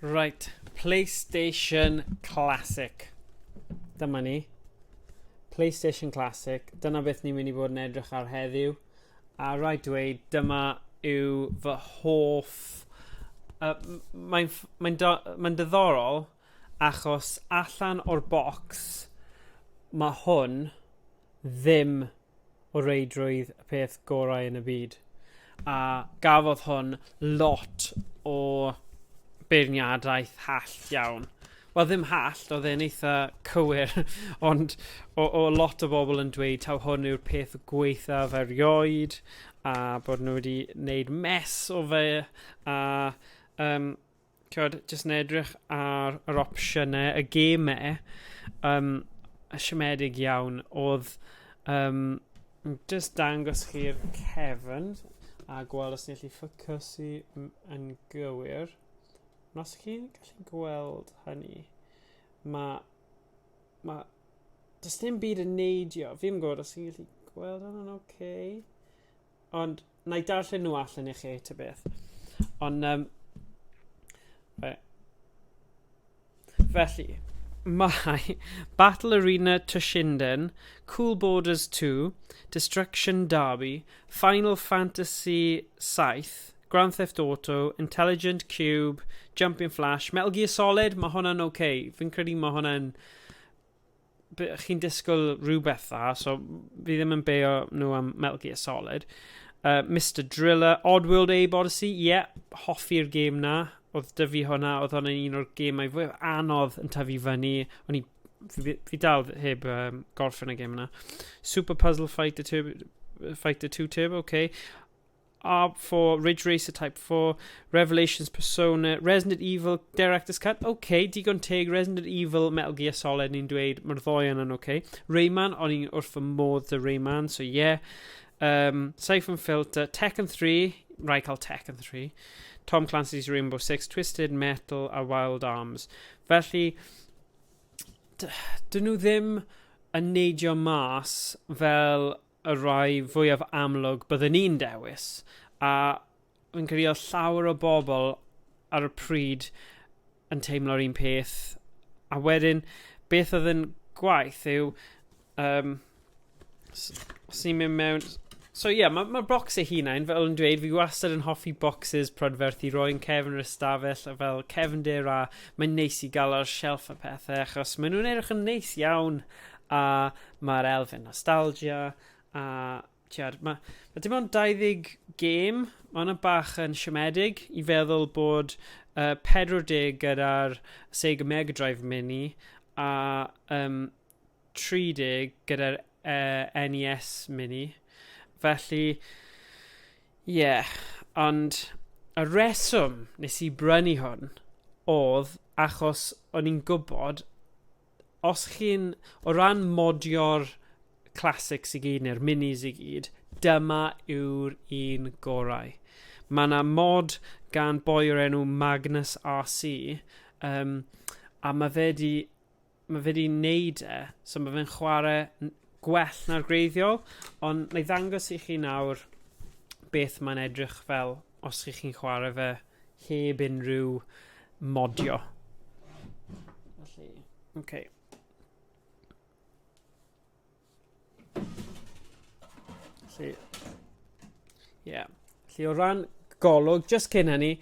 Right, PlayStation Classic. Dyma ni. PlayStation Classic. Dyna beth ni'n mynd i fod yn edrych ar heddiw. A rhaid dweud, dyma yw fy hoff... Uh, Mae'n mae mae diddorol achos allan o'r bocs mae hwn ddim o reidrwydd y peth gorau yn y byd. A gafodd hwn lot o beirniadaeth hall iawn. Wel, ddim hall, oedd e'n eitha cywir, ond o, o lot o bobl yn dweud taw hwn yw'r peth gweithaf erioed, a bod nhw wedi wneud mes o fe, a um, Cod, jyst yn edrych ar yr opsiynau, y gemau, um, siomedig iawn, oedd um, jyst dangos chi'r cefn a gweld os ni'n gallu ffocysu yn gywir. Nos chi'n gallu gweld hynny, mae, mae, does dim byd yn neidio. Fi'n gwybod os chi'n gallu gweld hynny'n oce. Okay. Ond na i darllen nhw allan i chi, ta beth. Ond, um, fe. Felly, mae Battle Arena Tushinden, Cool Borders 2, Destruction Derby, Final Fantasy VII, Grand Theft Auto, Intelligent Cube, Jumping Flash, Metal Gear Solid, mae hwnna'n oce. Okay. Fi'n credu mae hwnna'n chi'n disgwyl rhywbeth dda, so fi ddim yn beio nhw am Metal Gear Solid. Uh, Mr Driller, Oddworld Abe Odyssey, ie, yeah, hoffi'r gêm na. Oedd dy fi hwnna, oedd hwnna un o'r gêmau fwy anodd yn tyfu fyny. O'n i, fi, fi dal heb um, gorffen y gêm yna. Super Puzzle Fighter, Turbo, Fighter 2 Turbo, oce. Okay. Are for Ridge Racer Type 4, Revelations Persona, Resident Evil, Director's Cut, OK, digon teg, Resident Evil, Metal Gear Solid, ni'n dweud, mae'r ddoi yna'n OK. Rayman, o'n i'n wrth fy modd dy Rayman, so yeah. Um, Siphon Filter, Tekken 3, rhaid cael Tekken 3. Tom Clancy's Rainbow Six, Twisted Metal a Wild Arms. Felly, dyn nhw ddim yn neidio mas fel y rhai fwyaf amlwg bydden i'n dewis, a fi'n credu oedd llawer o bobl ar y pryd yn teimlo'r un peth. A wedyn, beth oedd yn gwaith yw... Um, os ni'n mynd mewn... So ie, yeah, mae'r ma bocs ei hunain, fel yn dweud, fi wastad yn hoffi bocsys prydferthu, roi'n cefn yr ystafell, fel cefndir a mae'n neis i gael ar shelf y pethau, achos maen nhw'n edrych yn neis iawn a mae'r elfen nostalgia, a tiad, mae, mae dim ond 20 gêm, mae hwnna bach yn siomedig i feddwl bod uh, 40 gyda'r Sega Mega Drive Mini a um, 30 gyda'r uh, e, NES Mini. Felly, ie, yeah, ond y reswm nes i brynu hwn oedd achos o'n i'n gwybod os chi'n, o ran modio'r classics i gyd neu'r minis i gyd, dyma yw'r un gorau. Mae yna mod gan boi o'r enw Magnus RC, um, a mae fe di, mae fe di neud e, so mae fe'n chwarae gwell na'r gwreiddiol, ond na i ddangos i chi nawr beth mae'n edrych fel os chi chi'n chwarae fe heb unrhyw modio. Felly, oce. Okay. Felly, ie. Yeah. Felly, o ran golwg, just cyn hynny,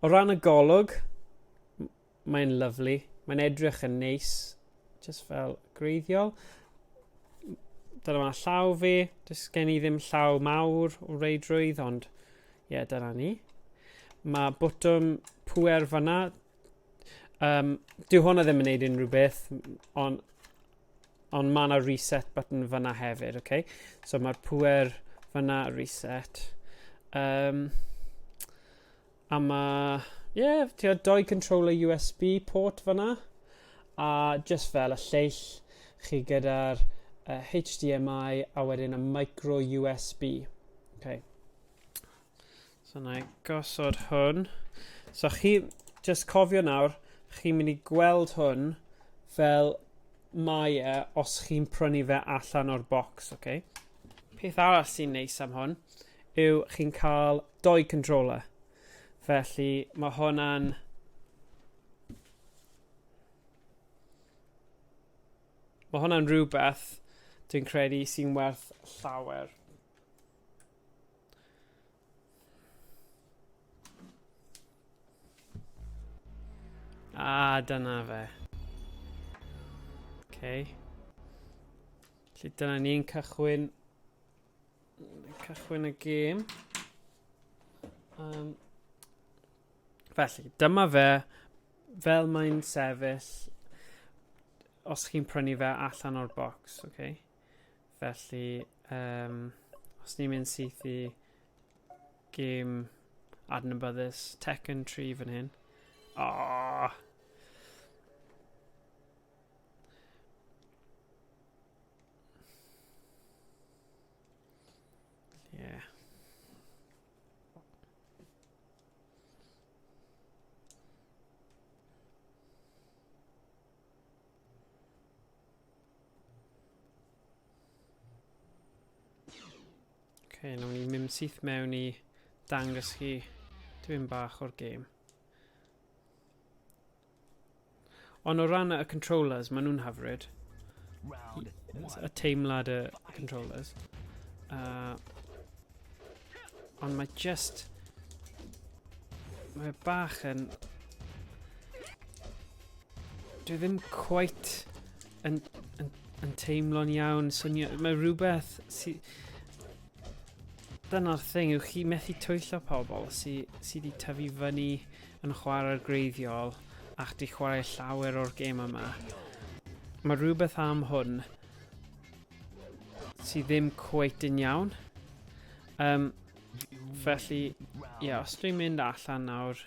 o ran y golwg, Mae'n lyfli. Mae'n edrych yn neis. Just fel greiddiol. Dyna mae llaw fi. Does gen i ddim llaw mawr o reidrwydd, ond ie, yeah, dyna ni. Mae botwm pwer fanna. Um, dyw hwnna ddim yn neud unrhyw beth, ond on mae yna reset button fanna hefyd, okay? So mae'r pwer fanna reset. Um, A mae, ie, yeah, ti'n doi controller USB port fanna, a just fel y lleill chi gyda'r uh, HDMI a wedyn y micro USB. Okay. So na i gosod hwn. So chi, just cofio nawr, chi'n mynd i gweld hwn fel mae e os chi'n prynu fe allan o'r bocs, okay? Peth arall sy'n neis am hwn yw chi'n cael doi controller. Felly mae hwnna'n Mae hwnna'n rhywbeth dwi'n credu sy'n werth llawer. A, ah, dyna fe. Okay. Felly dyna ni'n cychwyn Cychwyn y gêm. Um, felly, dyma fe fel mae'n sefyll os chi'n prynu fe allan o'r box, oce? Okay? Felly, um, os ni'n mynd syth i gêm adnabyddus Tekken 3 fan hyn. Oh. Yeah. okay, nawn ni mynd syth mewn i dangos chi tipyn bach o'r gêm. Ond o ran y controllers, maen nhw'n hyfryd. Y teimlad y controllers. Uh, ond mae just... Mae bach yn... Dwi ddim quite yn, yn, yn teimlo'n iawn. Swnio, mae rhywbeth sy... Dyna'r thing, yw chi methu twyllo pobl sydd sy wedi tyfu fyny yn chwarae'r greiddiol ac di chwarae llawer o'r gêmau yma. Mae rhywbeth am hwn sydd ddim cweit yn iawn. Um, felly, ie, yeah, os dwi'n mynd allan nawr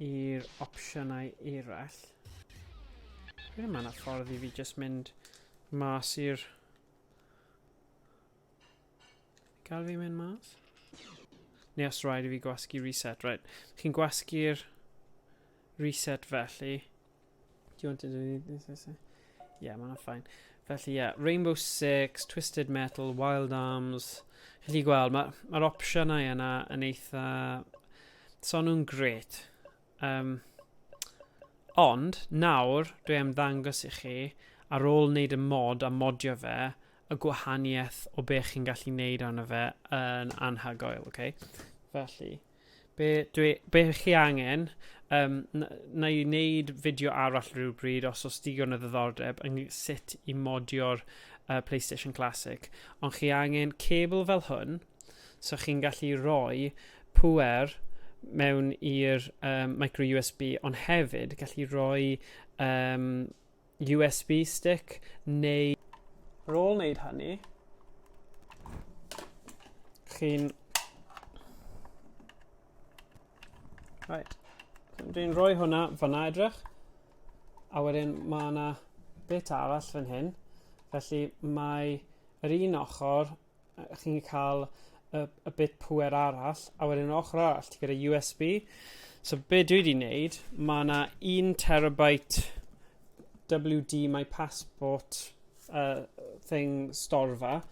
i'r opsiynau eraill, dwi'n yma na ffordd i fi jyst mynd mas i'r Gael fi mynd mas? Neu os rhaid i fi gwasgu reset, right. Chi'n gwasgu'r reset felly. Do you want to do this? this, this? Yeah, mae'n ffain. Felly, yeah, Rainbow Six, Twisted Metal, Wild Arms. Chi'n gallu gweld, mae'r ma, ma opsiynau yna yn eitha... So nhw'n gret. Yym, ond, nawr, dwi am ddangos i chi, ar ôl wneud y mod a modio fe, y gwahaniaeth o be chi'n gallu wneud arno fe yn anhygoel, ok? Felly, be, dwi, be chi angen, um, na i wneud fideo arall rhywbryd os oes digon o ddiddordeb yn sut i modio'r uh, PlayStation Classic, ond chi angen cable fel hwn, so chi'n gallu rhoi pŵer mewn i'r um, micro USB ond hefyd gallu rhoi um, USB stick neu ar ôl wneud hynny chi'n right dwi'n rhoi hwnna fyna edrych a wedyn mae yna bit arall fan hyn felly mae yr un ochr chi'n gallu cael y, y bit pwer arall, a wedyn yn ochr arall, ti gyda USB. So be dwi wedi wneud, mae yna 1 terabyte WD My Passport uh, thing storfa,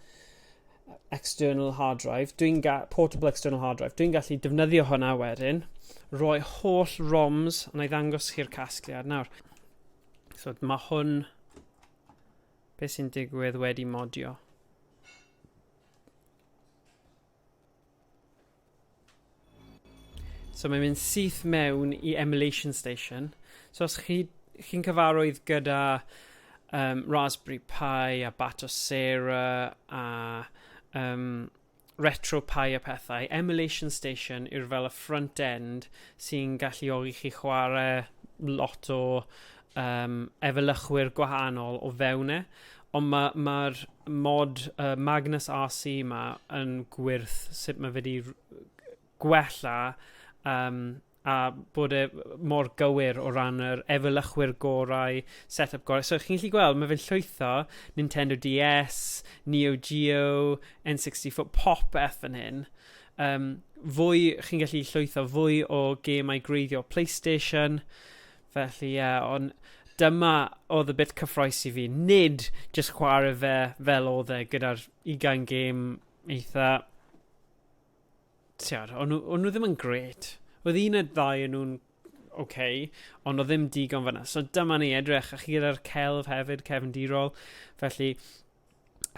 external hard drive, dwi'n portable external hard drive, dwi'n gallu defnyddio hwnna wedyn, roi holl ROMs, a na i ddangos chi'r casgliad nawr. So mae hwn Be sy'n digwydd wedi modio? So mae'n mynd syth mewn i emulation station. So os chi, chi'n cyfarwydd gyda um, Raspberry Pi a Batocera a um, retro pie a phethau, emulation station yw'r fel y front end sy'n galluogi chi chwarae lot o um, efelychwyr gwahanol o fewn e, ond mae'r ma, ma mod uh, Magnus RC yma yn gwirth sut mae wedi gwella um, a bod e mor gywir o ran yr efelychwyr gorau, set-up gorau. So chi'n gallu gweld, mae fe'n llwytho Nintendo DS, Neo Geo, N64, popeth fan hyn. Um, fwy, chi'n gallu llwytho fwy o gemau greiddio PlayStation, felly ie, yeah, ond dyma oedd y bit cyffroes i fi. Nid just chwarae fe fel oedd e gyda'r 20 gêm eitha Tiod, o'n nhw, o'n nhw ddim yn gret. Oedd un y ddau yn nhw'n okay, ond o ddim digon fyna. So dyma ni edrych, a chi gyda'r celf hefyd, Kevin Dirol. Felly,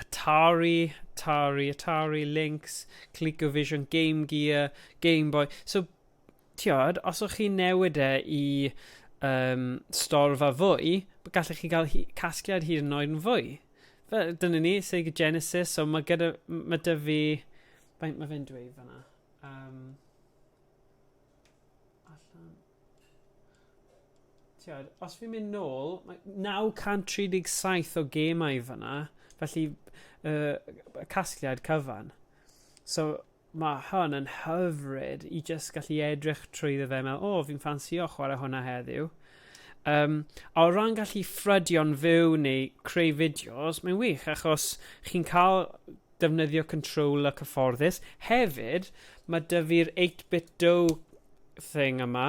Atari, Atari, Atari, Lynx, ColecoVision, Game Gear, Game Boy. So tiod, os o'ch chi'n newid e i um, storfa fwy, gallech chi gael hi, casgliad hyd yn oed yn fwy. Fe, dyna ni, Sega Genesis, so mae gyda, mae dy fi, faint mae fe'n dweud fanna? Um, allan. Tiod, os fi'n mynd nôl, mae 937 o gemau fanna, felly uh, casgliad cyfan. So, ma hwn yn hyfryd i jyst gallu edrych trwyddo fe a meddwl, o, fi'n ffansio chwarae hwnna heddiw. Um, a o ran gallu ffrydio'n fyw neu creu fideos, mae'n wych achos chi'n cael defnyddio control y cyfforddus. Hefyd, mae dy fi'r 8-bit do thing yma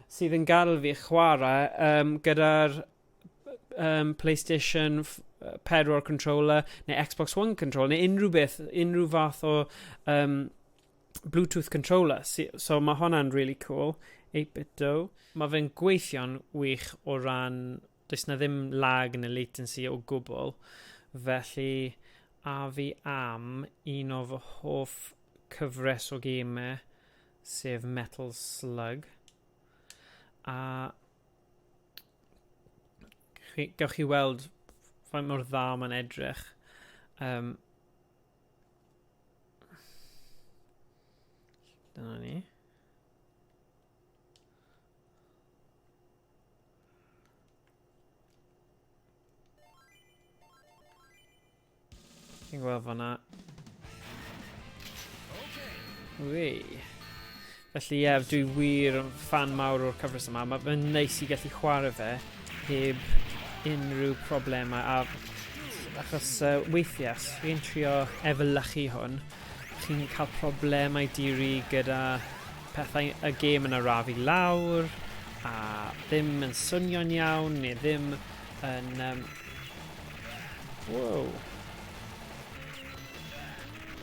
sydd yn gadael fi chwarae um, gyda'r um, PlayStation 4 controller neu Xbox One controller neu unrhyw beth, unrhyw fath o um, Bluetooth controller. So mae hwnna'n really cool. 8-bit do. Mae fe'n gweithio'n wych o ran, does na ddim lag neu latency o gwbl. Felly, a fi am un o fy hoff cyfres o gemau, sef Metal Slug. A chi, gawch chi weld faint mor dda mae'n edrych. Um, dyna ni. Chi'n gweld fanna. Ui. Felly ie, dwi wir yn fan mawr o'r cyfres yma. Mae'n neis i gallu chwarae fe heb unrhyw problemau. A achos uh, weithiau, chi'n trio efelychu hwn, chi'n cael problemau diri gyda pethau y gêm yn arafu lawr a ddim yn swnio'n iawn neu ddim yn... Um... Wow.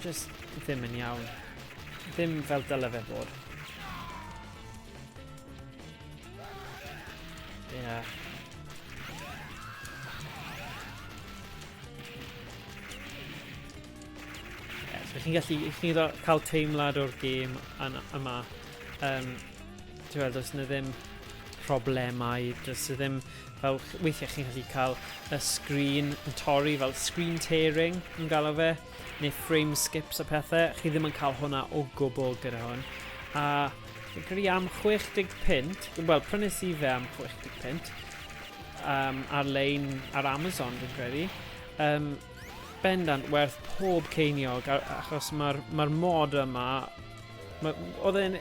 Just ddim yn iawn. Ddim fel dyle fe bod. Yeah. Yes, chi'n gallu, chi'n cael teimlad o'r gêm yma. Um, Ti'n gweld, os yna ddim problemau, does e ddim Fel weithiau chi'n gallu cael y sgrin yn torri fel screen tearing ni'n galw fe, neu frame skips a pethau, chi ddim yn cael hwnna o gwbl gyda hwn. A fi'n credu am 60 pint, wel prynes i fe am 60 pint, um, ar-lein ar Amazon fi'n credu, um, bendant werth pob ceiniog achos mae'r mae mod yma Oedd e'n...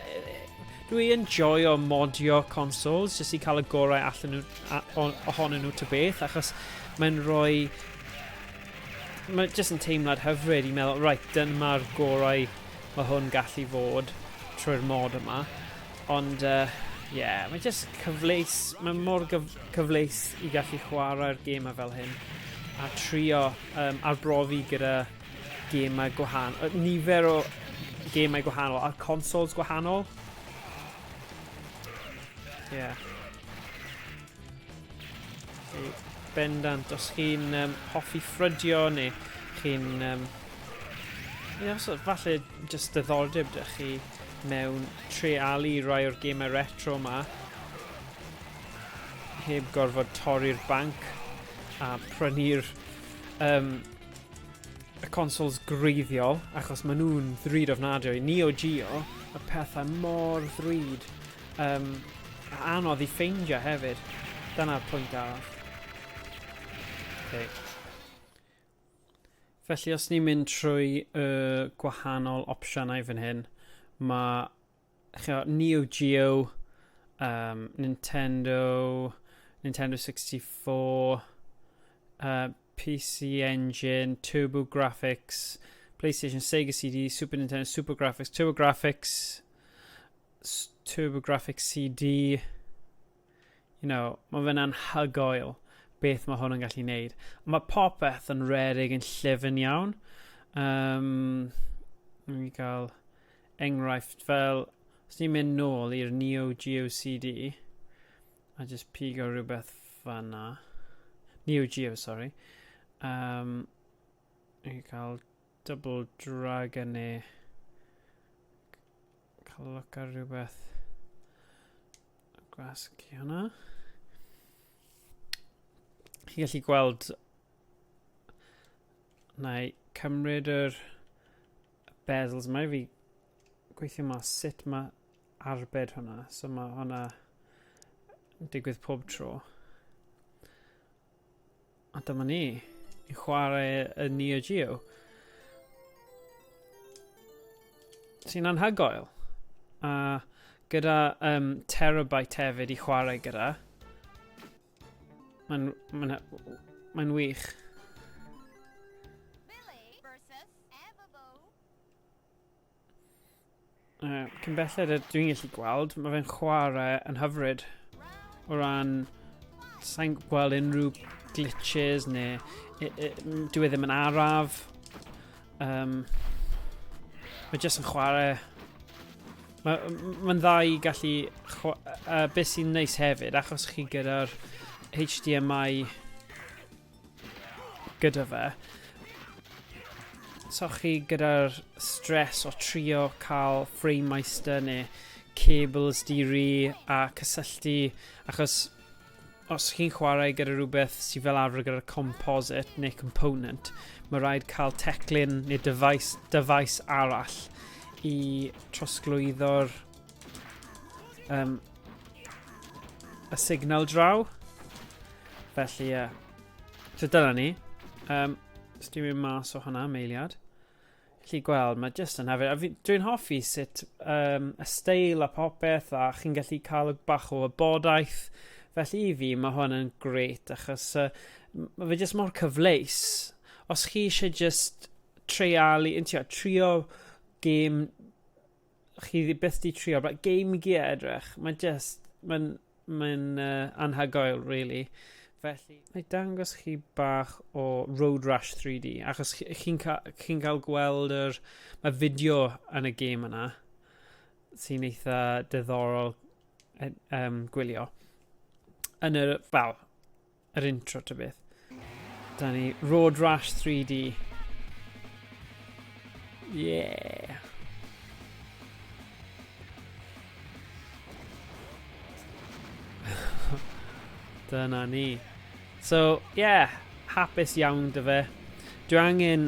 Dwi yn joio modio consoles jyst i cael y gorau allan nhw, a, on, ohonyn nhw ta beth, achos mae'n rhoi... Mae jyst yn teimlad hyfryd i meddwl, right, dyma'r gorau mae hwn gallu fod trwy'r mod yma. Ond, ie, uh, yeah, mae jyst cyfleus, mae mor gyf cyfleus i gallu chwarae'r gêm fel hyn a trio um, arbrofi gyda Gemau gwahanol, yy, nifer o gemau gwahanol, ar consoles gwahanol. Ie. Yeah. Bendant, os chi'n um, hoffi ffrydio neu chi'n... Um, yeah, os, falle jyst ddoldeb dych chi mewn trealu rai o'r gemau retro yma heb gorfod torri'r banc a prynu'r um, y consoles greiddiol, achos maen nhw'n ddrud ofnadwy. Neo Geo, y pethau mor ddrud. Um, a anodd i ffeindio hefyd. Dyna'r pwynt arall. Okay. Felly os ni'n mynd trwy y uh, gwahanol opsiynau fan hyn, mae ch'mo' Neo Geo, um, Nintendo, Nintendo 64, uh, PC Engine, Turbo Graphics, PlayStation, Sega CD, Super Nintendo, Super Graphics, Turbo Graphics, Turbo Graphics CD, You know, mae fe'n anhygoel beth mae hwn yn gallu neud. Mae popeth yn rerig yn llyfn iawn. Um, Rwy'n i gael enghraifft fel, os ni'n mynd nôl i'r Neo Geo CD, a just pigo rhywbeth fanna. Neo Geo, sorry. Um, Rwy'n cael Double Dragon ni. Cael look ar rhywbeth. Gwasgu hwnna. Chi gallu gweld... Na i cymryd yr bezels yma i fi gweithio mas sut mae arbed hwnna. So mae hwnna yn digwydd pob tro. A dyma ni, i chwarae y Neo Geo. Sy'n anhygoel. A gyda um, terabyte hefyd i chwarae gyda. Mae'n mae mae wych. Uh, cyn belled a dwi'n gallu gweld, mae fe'n chwarae yn hyfryd. O ran, sa'n gweld unrhyw glitches neu e, e, dwi e ddim yn araf. Um, mae jyst yn chwarae... Mae'n ma dda i gallu... Uh, beth sy'n neis hefyd, achos chi gyda'r HDMI gyda fe. So chi gyda'r stress o trio cael frame meister neu cables diri a cysylltu achos os chi'n chwarae gyda rhywbeth sydd fel arfer gyda'r composite neu component, mae rhaid cael teclyn neu dyfais, dyfais arall i trosglwyddo'r um, y signal draw. Felly, ie. Uh, so dyna ni. Um, Stymio mas o hwnna, meiliad. Chi gweld, mae jyst yn hefyd. Dwi'n hoffi sut um, y steil a popeth a chi'n gallu cael bach o wybodaeth. Felly i fi, mae hwn yn gret achos uh, mae fe jyst mor cyfleus. Os chi eisiau jyst treialu, yn trio, trio game chi byth di trio, but Game Gear edrych, mae'n just, mae'n mae uh, anhygoel, really. Felly, mae dangos chi bach o Road Rash 3D, achos chi'n ca chi cael gweld yr... Mae fideo yn y gêm yna, sy'n eitha diddorol um, gwylio. Yn yr, wel, yr intro ta beth. Da ni Road Rash 3D. Yeah. Dyna ni. So, yeah, hapus iawn dy fe. Dwi angen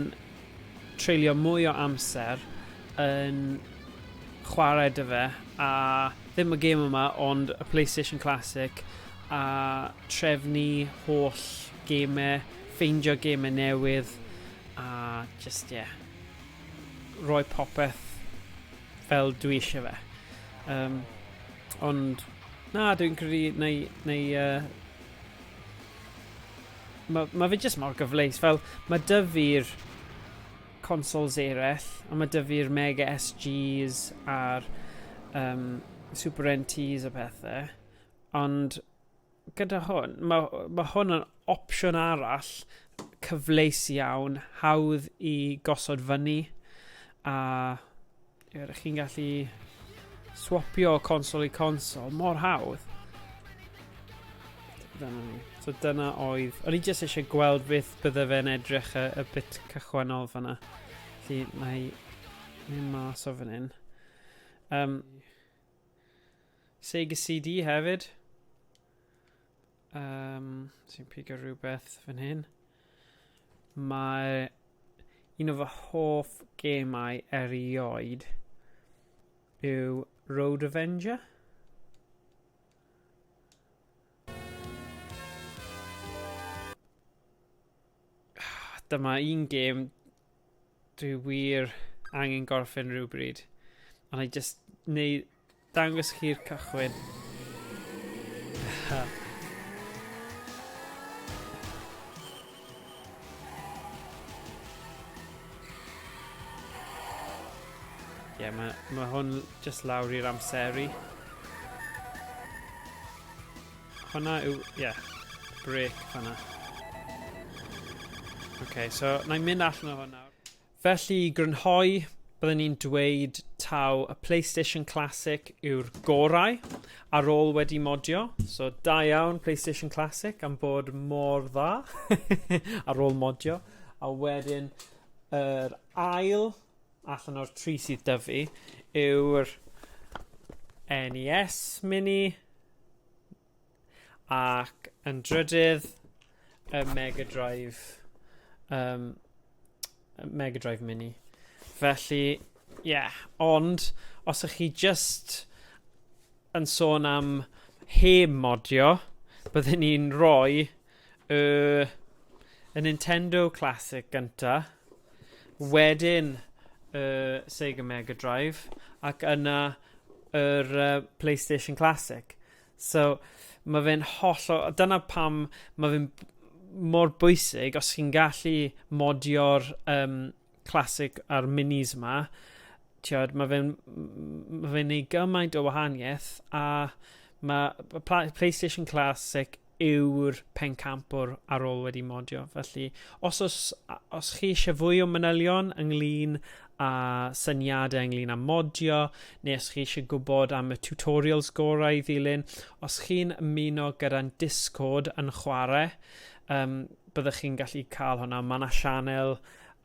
treulio mwy o amser yn chwarae 'da fe, a ddim y gêm yma ond y Playstation Classic, a trefnu holl gemau, ffeindio gemau newydd, a jyst ie, rhoi popeth fel dwi eisiau fe. Um, ond na, dwi'n credu neu, neu uh, Mae ma fe jyst mor gyfleus. Fel, mae dy fi'r consoles eraill, a mae dy fi'r Mega SGs a'r um, Super NTs a pethau. Ond gyda hwn, mae, mae hwn yn opsiwn arall cyfleus iawn, hawdd i gosod fyny, a Ydych chi'n gallu swapio consol i consol mor hawdd. Dyna ni. So dyna oedd... O'n i jyst eisiau gweld beth bydde fe'n edrych y, y bit cychwynol fanna. Felly mae mynd mas o fan hyn. Um, Sega CD hefyd. Um, sy'n pigo rhywbeth fan hyn. Mae un o fy hoff gemau erioed yw Road Avenger. Dyma un gêm Dwi wir angen gorffen rhywbryd. Ond I just neu dangos chi'r cychwyn. Ie, yeah, mae ma hwn just lawr i'r amseru. Hwna yw, ie, yeah, break fanna. OK, so na i mynd allan o hwn nawr. Felly i grynhoi, byddwn ni'n dweud taw y PlayStation Classic yw'r gorau ar ôl wedi modio. So da iawn PlayStation Classic am bod mor dda ar ôl modio. A wedyn yr er ail allan o'r tri sydd dyfu yw'r NES Mini Ac yn drydydd, y Mega Drive, um, Mega Drive Mini. Felly, ie, yeah. ond os ych chi just yn sôn am he modio, byddwn ni'n rhoi Y y Nintendo Classic gynta, wedyn y Sega Mega Drive, ac yna yr uh, PlayStation Classic. So, mae fe'n holl o... Dyna pam mae fe'n mor bwysig os chi'n gallu modio'r um, classic a'r minis yma, tiod, mae fe'n ma fe neud gymaint o wahaniaeth a mae PlayStation Classic yw'r pencampwr ar ôl wedi modio. Felly, os, os, os chi eisiau fwy o manylion ynglyn a syniadau ynglyn â modio, neu os chi eisiau gwybod am y tutorials gorau i ddilyn, os chi'n ymuno gyda'n Discord yn chwarae, um, byddwch chi'n gallu cael hwnna. Mae yna sianel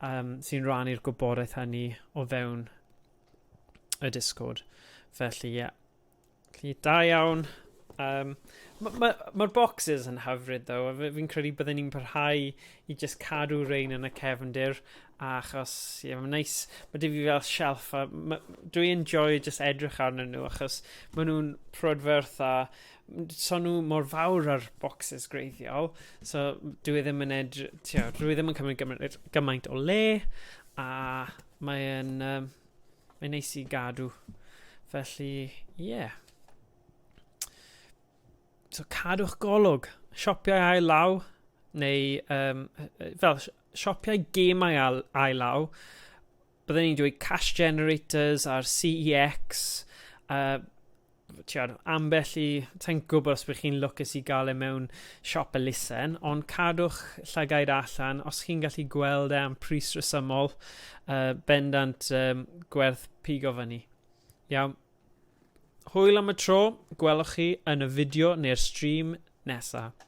um, sy'n rannu'r gwybodaeth hynny o fewn y Discord. Felly, ie. Yeah. Felly, da iawn. Um, Mae'r ma, ma boxes yn hyfryd, ddo. Fi'n credu byddwn ni'n parhau i just cadw rein yn y cefndir. Achos, ie, yeah, mae'n neis. Mae dim fi fel shelf. Dwi'n enjoy just edrych arnyn nhw, achos maen nhw'n prodferth a so nhw mor fawr ar bocsys greiddiol, so dwi e ddim yn edr... Tio, dwi e ddim yn cymryd gymaint, gymaint o le, a mae'n um, mae neis i gadw. Felly, ie. Yeah. So cadwch golwg. Siopiau ail law, neu um, fel siopiau gemau ail, ail law, byddwn ni'n dweud cash generators a'r CEX, uh, tiod, ambell i, ta'n gwybod os byddwch chi'n lwcus i gael e mewn siop elusen, ond cadwch llygaid allan os chi'n gallu gweld e am pris resymol, uh, bendant um, gwerth pigo fyny. Iawn. Hwyl am y tro, gwelwch chi yn y fideo neu'r stream nesaf.